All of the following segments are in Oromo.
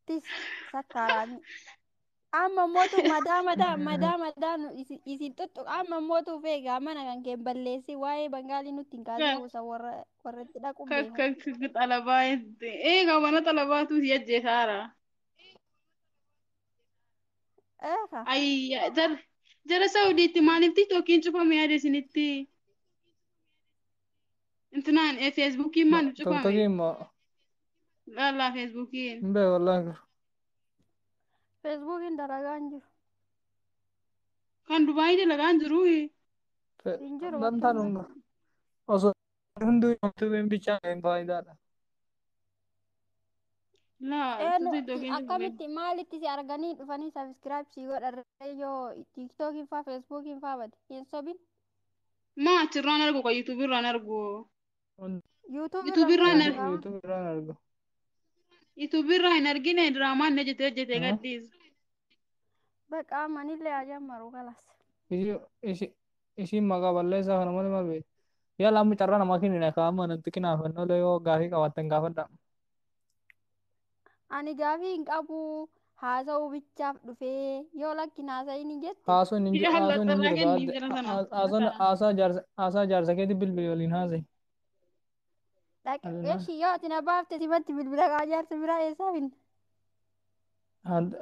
Tis sakkaaraani. Amma mootu madaa madaa madaa madaa nu isi- isin tuttu amma mootu feega mana kan keen balleessi waa'ee bangaalii nutti hin kaasee usa warra warra itti dhaquun beeku. Kakka xalabaa itti. Eegaa mana xalabaatu si ajjeesaara. Eeka Ayya jara jara Saudiitti maaliif tiktokiin cufame yaada isinitti? Intinaan eh, feesbuukiin maal nu cufame? Toktokiin moo Laallaa feesbuukiin. hin beeku wallahi garuu. Feesbuukiin dalagaa hin jiru. Kan Dubaayii dalagaan jiru. Fe- Hin jiru Dantaan bakka hunda osoo hunduu yuutuubiin bichaan hin faayidaadha. Laa, Ee nu tuti dogeen jiru. akkamitti maalitti si arganii dhufanii sabiskiraayib sii godharree yoo tiiktookiin faa feesbuukiin faa bade hin sobin Maa achirraan argu kan YouTube irraan argu. YouTube YouTube irraa irraan hin argu. argu. YouTube irraan argu. YouTube irraa hin argine diraamaan na jetee jetee Haa? gadhiisa. Baqaa manillee haa jammaru kalas. Isi- isi- Isiin maqaa balleessaa kana malee maal beektu? Yaala amma carraa namaa kennina kaa amma nanti kinaafannoolee yoo gaafii qabaattan gaafadhaa. Ani gaafii hin qabu haasa'uu bichaaf dhufee yoo lakkin haasa'ini jette Haasoon hin jiru. Haasoon hin jiru. Kenni jira sana. Haasoon haasaa jaarsa haasaa jaarsa keetti bilbili waliin haasa'e. dhaqe Alinaa. eshi yoo ati na baafte sifatti bilbila kaa jaarsa biraa eessaa finna.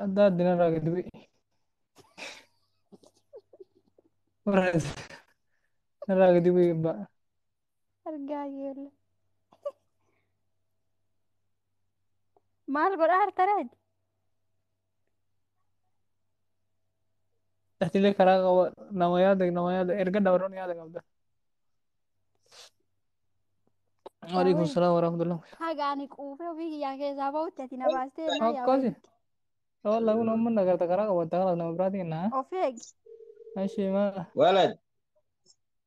Adda addina irraa gadi bu'e. Irraa gadi bu'e abbaa. argaa yeella maal godhaa hartaraaj Atilee karaa qaba nama yaada nama yaada erga dabaroon yaada qabda. Waalaikum Daawwee. salaam warahmatullah. haga ani quufee ofii kiyyaa keessaa bahutti ati na baastee naa yaa Akkasi. wayiti Yoo laguun amma nagarta karaa qabatta kanaaf nama biraatiin naa. of eegi Ashii maa. Walad.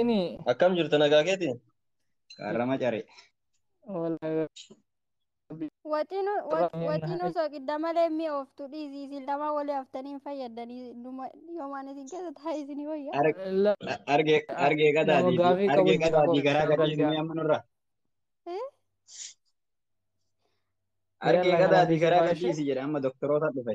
Ini Akkam jirtu nagaa keeti? Qarrama care. wala Waxinu Rabbi waxinu naaf- soqidda malee mi oftu dhiisi isin lama wali haftanii hin fayyadanii dhuma yoomaan isin keessa taa'e isin wayya. Ar- la a- Arge arge nama qadaadii fi gaafii qabu arge jira qadaadii koo garaa gadaa isinii amma nurra. Eh? Arge Yalla qadaadii garaa garaa gadhiisi jedhe amma doktoroota dhufe.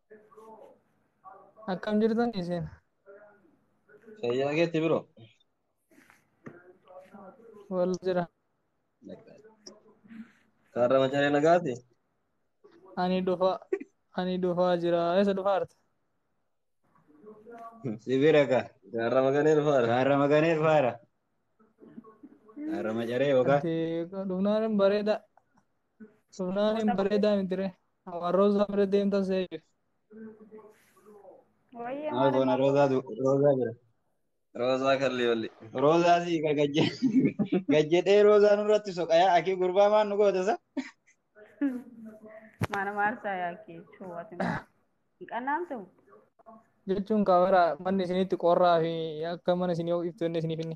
Akkam jirtan isin? Fayyaa keetti biro. Wal jira. Kaarra macaree nagaati. Ani dhufa ani dhufaa jira. Eessa dhufaarta? Si bira ka. Kaarra maganee dhufaara. Kaarra maganee dhufaara. Kaarra macaree yookaan. Ati dhufnaan hin bareeda. Dhufnaan hin bareedaa miti ree. Awan Roza bira deemta seeyyu. Wayyee Maa maal goona maal Roozaa du- Roozaa bira. Roozaa kalli walli. Roozaa sii ka gajje gajjedhee Roozaa nurratti soqayaa akii gurbaa maan nu goota sa. maana maarsaa yaakee chuuwati maal. Hin qannaamtu? Jechuun kaamera manni isinitti qorraa fi akka mana isinii ho'iftu inni isiniif inni.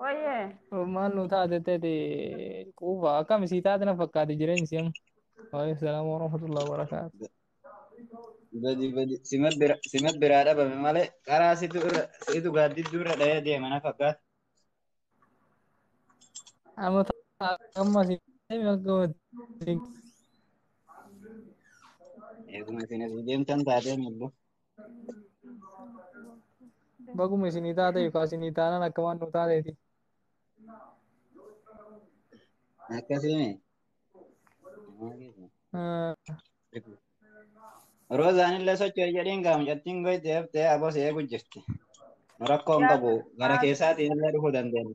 Wayyee. Maal nu taate tete quufa akkam sii taate na fakkaate jireenyi si amma. Waaleykum salaam wa rahmatullahi wa barakaatu. Badi badi sima bira sima biraa dhabame malee karaa situ irra situ gaaddidduu irra dhahee deema na fakkaata. Amma ta'a amma si deemi akka wajjin. Eeguma isin asii deemtan taatee mullu. Baguma isinii taate yookaan isinii taanaan akka waan nu taateeti. Akkasimi. Ah, Roozaan illee socho'e jedhiin gaa mucattiin goyte haftee aboo si eegu jirti. Nu rakkoo hin qabu. Gara keessaatiin illee dhufuu dandeenya.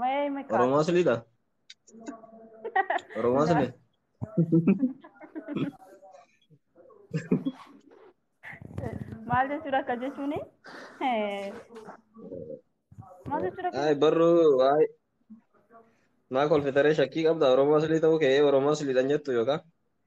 Maya ima kaasa. Oromoo siliidha? Oromoo sili? Maal jechuudha akka jechuuni? Maal jechuudha akka Ay barruu ay maa kolfitaree shakkii qabda Oromoo silii ta'uu kee Oromoo siliidhan jettu yookaan?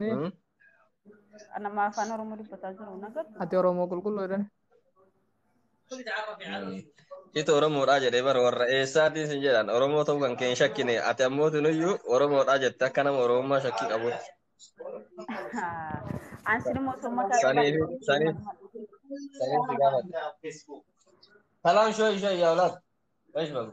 Hmm? Nama afaan Oromoo dubbataa jiru na gartu. Ati Oromoo qulqulluu jedhan. Ito Oromoodhaa jedhee bara warra eessaatiin sin jedhan Oromoo ta'uu kan kee hin shakkine ati ammoo tunuyyuu Oromoodhaa jette akka nama Oromummaa shakkii qabu. An sinuma osoo mataa Sanii fi qabaatee sanii sanii si gaafadhe. Salaam shoo ishee yaa olaat. Eesh balu.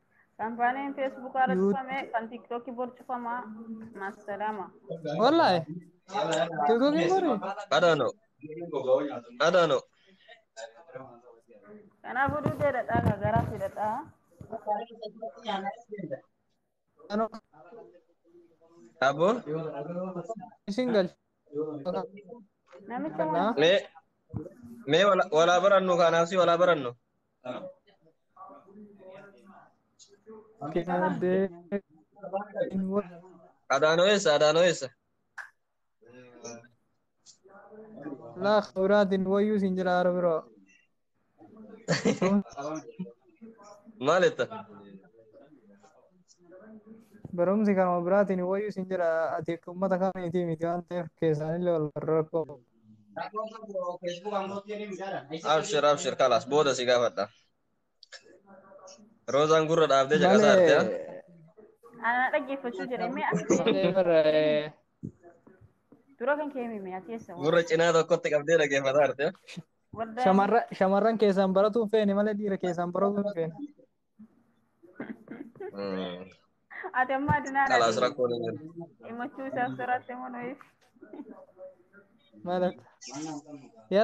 Kampaaniin Facebook irra Yuu- cufame kan TikTok bor cufama. Maasalaama. Wallahi. Tiktokiin bori. I don't know. I don't know. Kanaafuu dudee dhadhaa kan garaa fi dhadhaa. Ano Abo? isin galcha. Namicha Kana. Me me wala wala barannu kanaaf si wala barannu. Adaanoo eessa? Adaanoo eessa? Laa kabraatiin wayyuu siin jira hara biroo. Maal jetta? Barumsi kanuma biraatiin wayyuu siin jira ati akka uummata kamiitii miti waan ta'eef keessaanillee wal rakkoo. Abshir abshir kalas booda si gaafadha. Roozaan gurra dhaabdee caqasaa jirti. ah. Anaa dhaggeeffachuu jedhee mee as Malee bara eh, dura kan kee himi mee ati eessa waan Gurra cinaa tokkotti qabdee dhaggeeffataa jirti. ah. waldaa shamarra- shamarran keessaan baratuun feene malee dhiira keessaan baratuun feene. Mm. Ati amma adunaan Kalaas ati rakkoon hin jiru. himachuu isaaf sirratti immoo nuyiif. Maal akka? Yala.